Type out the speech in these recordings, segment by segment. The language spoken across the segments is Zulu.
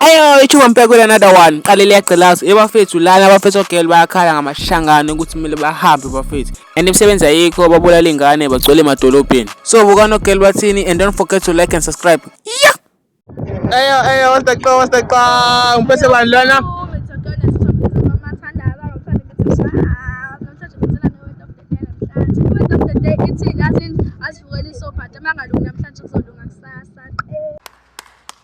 Ayo ichuba mpekela another one qale liyagcilaza ebafethu lana abafethu ogel bayakhala ngamashangane ukuthi kumele bahambe bafethu and imisebenzi ayikho babulala ingane bagcwele emadolobheni so bukana ogel bathini and don't forget to like and subscribe yeah ayo ayo what's the clown what's the clown mpese bani lona As you really so bad, I'm not going to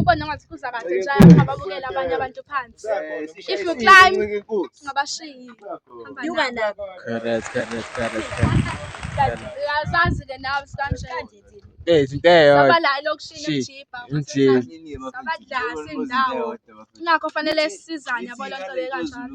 ubone ngathi kuza kahle nje ababukela abanye abantu phansi if you climb ngabashiyi yuka la correct correct correct uyazazi ke nawe sikanje Eh izinto eyodwa. Sabala lokushiya ijipa. Injini. Sabadla sindawo. Ingakho fanele sisizane yabo lonto le kanjalo.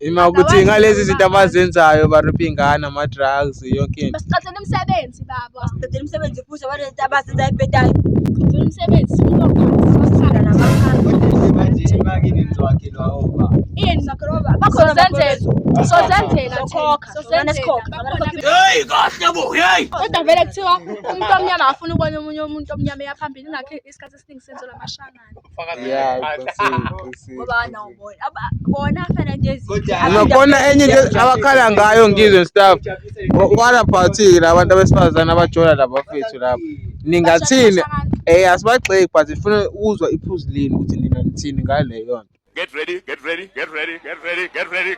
Ima ukuthi ngalezi zinto abazenzayo baripha iy'ngane ama-drugs yonke into Basiqathele umsebenzi baba. Qedela umsebenzi futhi abantu lento abazenza ebhedayo. Qedela umsebenzi sifuna ukwazi sasithanda nabaphansi. Ini? Sozenzela. Sozenzela. Sokhokha. Sozenzela. Sokhokha. Bakhokha. Kodwa vele kuthiwa umuntu omnyama afuna ukubona omunye umuntu omnyama eya phambili ingakho isikhathi esiningi senzelwa amashana. Nakhona enye into abakhala ngayo ngizwe and stuff. What about yini abantu abesifazane abajola laba fethu lapha? Ningathini? Eh asibagxeki but sifuna ukuzwa iphuzu lenu ukuthi nina nithini ngaleyo nto. Get ready, get ready, get ready, get ready, get ready.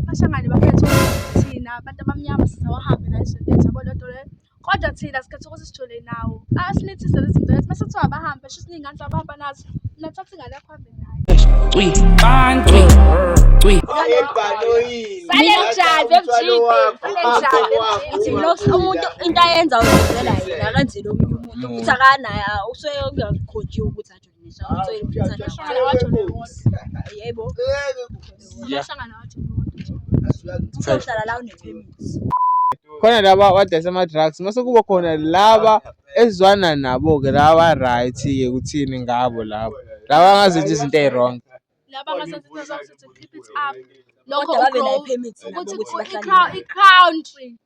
Abashangane bakhetha ukuthi thina abantu abamnyama sisawahambe nayo izinto ethu yabo lento le. Kodwa thina sikhetha ukuthi sijole nawo. Asinithise lezi zinto lezi mase kuthiwa abahambe sho ukuthi ningane zabahamba nazo. Nathatha ingane yakho hambe nayo. Cwi, bang, cwi, cwi. Ebhanoyini. Sale mjazi emjini. Sale mjazi emjini. Ithi loks umuntu into ayenza uzenzela yena akanzile omunye umuntu. Uthi akanaye usuke ungakhojiwe ukuthi athi khona laba abadayisa ama-drugs mase kuba khona laba ezwana nabo-ke laba right-ke kuthini ngabo labo laba angazenza izinto eyi-wrong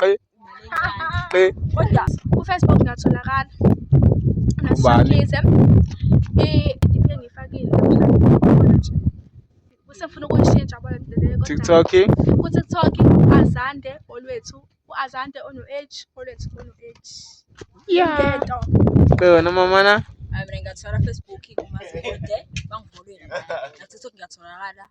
qe qe kodwa kufacebook ngatholakala ngashikize idiphe ngifakile kusefuna ukuyishintsha bona ndilele tiktok kutiktok u-azande olwethu u-azande ono-h olwethu ono-h yento qe wena mamana mina ngathola facebook kumaziode bangifolile ngathi tiktok ngiyatholakala